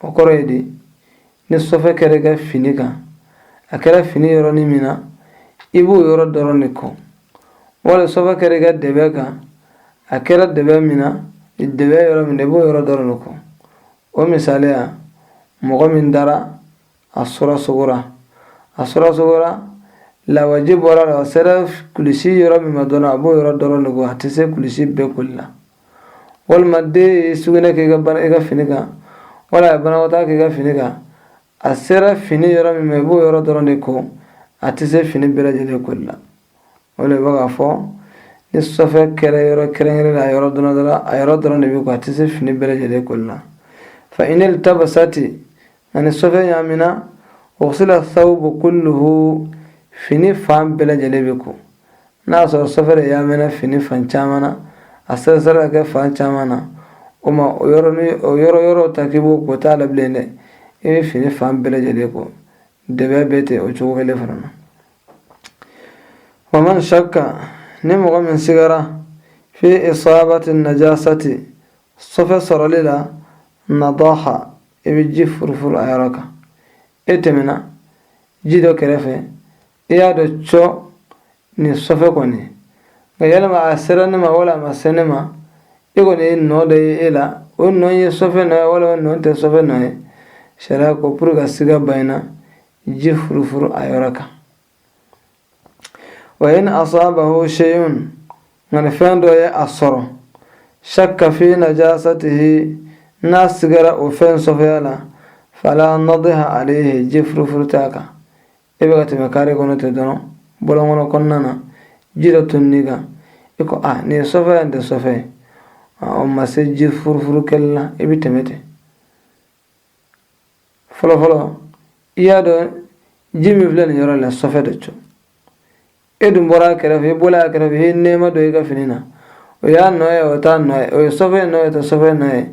o kɔrɔ ye di ni sɔfɛ kɛra i ka fini kan a kɛra fini yɔrɔnin min na i b'o yɔrɔ dɔrɔn de ko wala sɔfɛ kɛra i ka dɛbɛ kan a kɛra dɛbɛ min na dɛbɛ yɔrɔ min na i b'o yɔrɔ dɔrɔn de ko o misaliya mɔgɔ min dara a sɔrɔ sugora a sɔrɔ sugora lawaji bɔra a la a sera kulusi yɔrɔ min ma dɔrɔn a b'o yɔrɔ dɔrɔn de ko a tɛ se kulusi bɛɛ koli la walima den ye sugunɛ kɛ i ka fini kan wala a ye banakɔtaa kɛ i ka fini kan a sera fini yɔrɔ min ma i b'o yɔrɔ dɔrɔn de ko a tɛ se fini bɛɛ lajɛlen koli la o de bɛ k'a fɔ ni sɔfɛ kɛra yɔrɔ kɛrɛnkɛrɛn na a yɔrɔ dɔrɔn dɔrɔn a yɔrɔ dɔrɔn de bɛ ko a tɛ se fini bɛɛ lajɛlen koli la fa inil tabasati a ni sɔfɛ ɲaamina gusila sawbu kulluhu fini fan bɛɛ lajɛlen bɛ ko n'a y'a sɔrɔ sɔfɛ de ɲaamina fini fan caman na a seriserila ka kɛ fan caman na o ma yɔrɔ yɔrɔ ta k'i b'o ko t'a la bilen dɛ i bɛ fini fan bɛɛ lajɛlen ko dɛbɛ bɛ ten o cogo kelen fana na waman shakka ni mɔgɔ min sigara fi isabati najasati sɔfɛ sɔrɔli la nadaha i bɛ ji furufuru a yɔrɔ kan e tɛmɛna ji dɔ kɛrɛfɛ i y'a dɔn cɔ nin sɔfɛ kɔni nka yalima a sera ne ma wala a ma se ne ma e kɔni ye nɔ dɔ ye e la o nɔ ye sɔfɛ nɔ ye wala o nɔ tɛ sɔfɛ nɔ ye sariya ko pour ka siga bayina ji furufuru a yɔrɔ kan wa in asabahu shay'un nka ni fɛn dɔ ye a sɔrɔ shakka fi najasatihi n'a sigara o fɛn sɔfɛya la fala nadiha alayhi ji furufuru t'a kan i bɛ ka tɛmɛ kare kɔnɔ ten dɔrɔn bɔlɔn kɔnɔ kɔnɔna na ji dɔ toni i kan i ko a nin ye sɔfɛ ye nin tɛ sɔfɛ ye o ma se ji furufuru kɛli la i bɛ tɛmɛ ten fɔlɔ fɔlɔ i y'a dɔn ji min filɛ nin yɔrɔ la sɔfɛ de cɔ e dun bɔra a kɛrɛfɛ i bɔla a kɛrɛfɛ i ye nɛɛma dɔ i ka fini na o y'a nɔ ye o t'a nɔ ye o ye sɔfɛ nɔ ye o tɛ sɔfɛ nɔ ye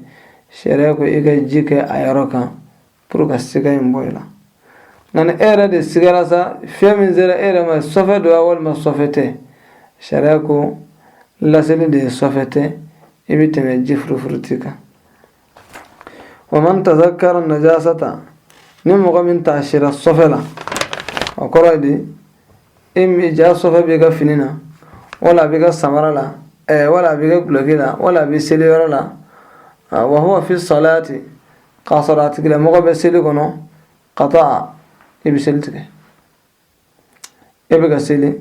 sariya ko i ka ji kɛ a yɔrɔ kan pour ka siga in bɔ i la nka ni e yɛrɛ de sigara sa fɛn min sera e yɛrɛ ma sɔfɛ don wa walima sɔfɛ tɛ sariya ko lasili de ye sɔfɛ tɛ i bɛ tɛmɛ ji furufuru t'i kan wa man tazakara najasata ni mɔgɔ min taasira sɔfɛ la o kɔrɔ ye di e min jaa sɔfɛ b'i ka fini na wala a b'i ka samara la ɛɛ wala a b'i ka duloki la wala a b'i seli yɔrɔ la wa huwa fi salati k'a sɔrɔ a tigilamɔgɔ bɛ seli kɔnɔ qata'a i bɛ seli tigɛ e bɛ ka seli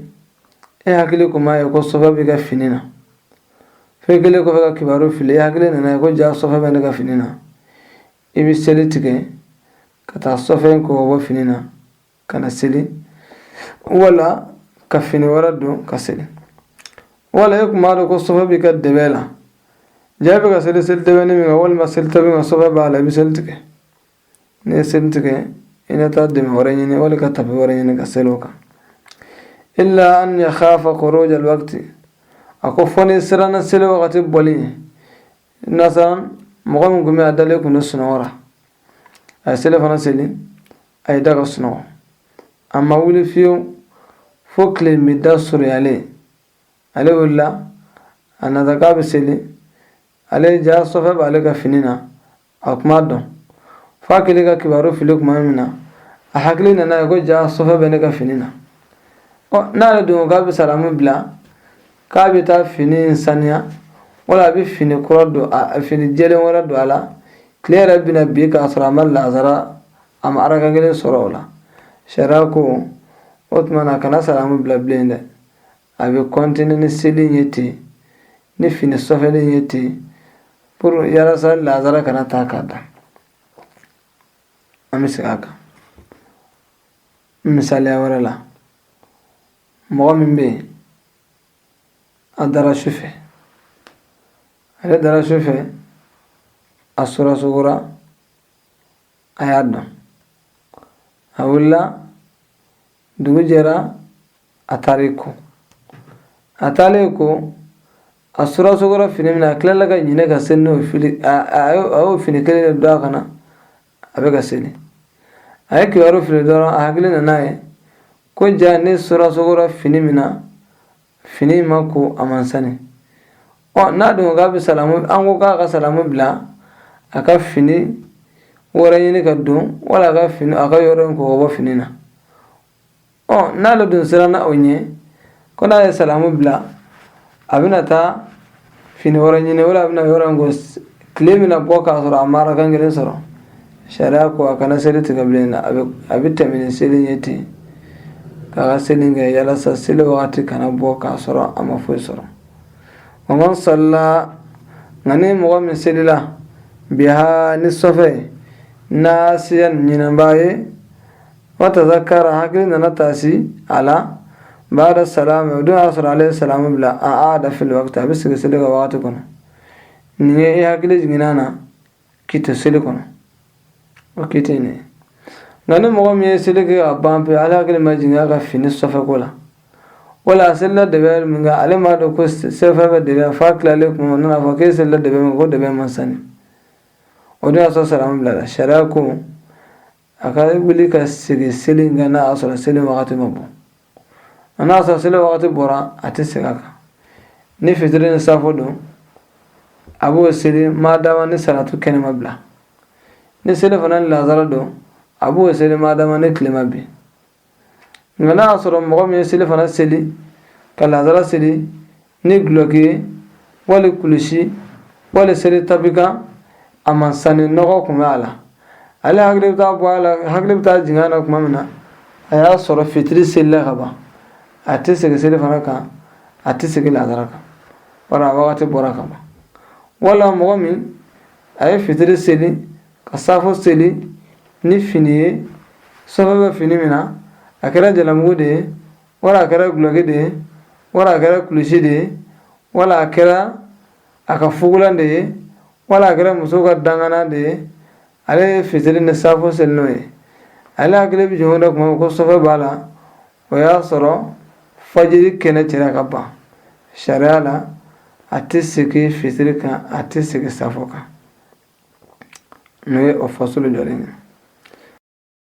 e hakili kun m'a ye ko sɔfɛ b'i ka fini na f'i kɛlen kɔfɛ ka kibaru fili e hakili nana ye ko ja sɔfɛ bɛ ne ka fini na i bɛ seli tigɛ ka taa sɔfɛ in ko ka bɔ fini na ka na seli wala ka fini wɛrɛ don ka seli wala e kun m'a dɔn ko sɔfɛ b'i ka dɛbɛ la ja bɛ ka seli seli dɛbɛni min kan walima seli tapi kan sɔfɛ b'a la i bɛ seli tigɛ n'i ye seli tigɛ i na taa dɛbɛ wɛrɛ ɲini wala ka tapi wɛrɛ ɲini ka seli o kan illa an yakhafa khuruja alwaqti a ko fo n'i siranna seli wagati bɔli ɲɛ masalan mɔgɔ min kun bɛ a dalen kun don sunɔgɔ la a ye selifana seli a y'i da ka sunɔgɔ a ma wuli fiyewu fo tile binda surunyalen ale wulila a nata k'a bɛ seli ale ja sɔfɛ b'ale ka fini na a kun m'a dɔn f'a kɛlen ka kibaru fili tuma min na a hakili nana ye ko ja sɔfɛ bɛ ne ka fini na ɔ n'ale dun k'a bɛ salamu bila k'a bɛ taa fini in saniya wala a bɛ fini kura don a fini jɛlen wɛrɛ don a la tile yɛrɛ bɛna bin k'a sɔrɔ a ma lazara a ma araka kelen sɔrɔ o la sariya ko o tuma na kana salamu bila bilen dɛ a bɛ kɔntini ni seli ye ten ni fini sɔfɛlen ye ten pour yalasa lazara kana taa k'a dan an bɛ segin a kan misaliya wɛrɛ la mɔgɔ min bɛ yen a dara su fɛ ale dara su fɛ a sura sugora a y'a dɔn a wulila dugu jɛra a taara i ko a taalen i ko a sura sugora fini min na a tilala ka ɲinɛ ka seli n'o fini a y'o fini kelen de don a kan na a bɛ ka seli a ye kibaru fili dɔrɔn a hakili nana ye ko ja ne sura sugora fini min na fini ma ko a man sani ɔ n'a dun k'a bɛ salamu an ko k'a ka salamu bila a ka fini wɛrɛ ɲini ka don wala a ka fini a ka yɔrɔ in ko ka bɔ fini na ɔ n'ale dun siranna o ɲɛ ko n'a ye salamu bila a bɛna taa fini wɛrɛ ɲini wala a bɛna yɔrɔ in ko tile bɛna bɔ k'a sɔrɔ a ma rakan kelen sɔrɔ sariya ko a kana seli tigɛ bilen a bɛ tɛmɛ ni seli ye ten k'a ka seli kɛ yalasa seli wagati kana bɔ k'a sɔrɔ a ma foyi sɔrɔ wa man salla nka ni mɔgɔ min selila biha ni sɔfɛ nasiyan ɲinanbaa ye wa tazakara hakili nana taasi a la baada salaami o don y'a sɔrɔ ale ye salaamu bila aada fil wakati a bɛ segin seli kan wagati kɔnɔ nin ye i hakili jiginna na k'i to seli kɔnɔ o k'i tɛ nin ye nka ni mɔgɔ min ye seli kɛ ka ban pewu ale hakili ma jigin a ka fini sɔfɛ ko la wala a selila dɛbɛ min kan ale m'a dɔn ko sɔfɛ bɛ dɛbɛ f'a tilalen kuma o nana fɔ k'e selila dɛbɛ min ko dɛbɛ man sani o don y'a sɔrɔ salaamu bilala sariya ko a ka wuli ka segin seli kan n'a y'a sɔrɔ seli wagati ma bɔ n'a y'a sɔrɔ seli wagati bɔra a tɛ segin a kan ni fitiri ni safo don a b'o seli maadama ni salatu kɛnɛ ma bila ni selifana ni lazara don a b'o seli maadama ni tile ma bin nka n'a y'a sɔrɔ mɔgɔ min ye selifana seli ka lazara seli ni gulɔki ye wali kulusi wali seli tapi kan a man sani nɔgɔ kun bɛ a la ale hakili bɛ taa bɔ a la hakili bɛ taa jigin a la tuma min na a y'a sɔrɔ fitiri selila ka ban a tɛ segin selifana kan a tɛ segin lazara kan bari a wagati bɔra ka ban wala mɔgɔ min a ye fitiri seli ka saafo seli ni fini ye sɔfɛ bɛ fini min na a kɛra jalamugu de ye wala a kɛra gulɔki de ye wala a kɛra kulusi de ye wala a kɛra a ka fugulan de ye wala a kɛra muso ka dangana de ye ale ye fitiri ni saafo seli n'o ye ale hakili bɛ jigin o de kuma ko sɔfɛ b'a la o y'a sɔrɔ fajiri kɛnɛ cira ka ban sariya la a tɛ segin fitiri kan a tɛ segin saafo kan n'o ye o fasulu jɔlen ye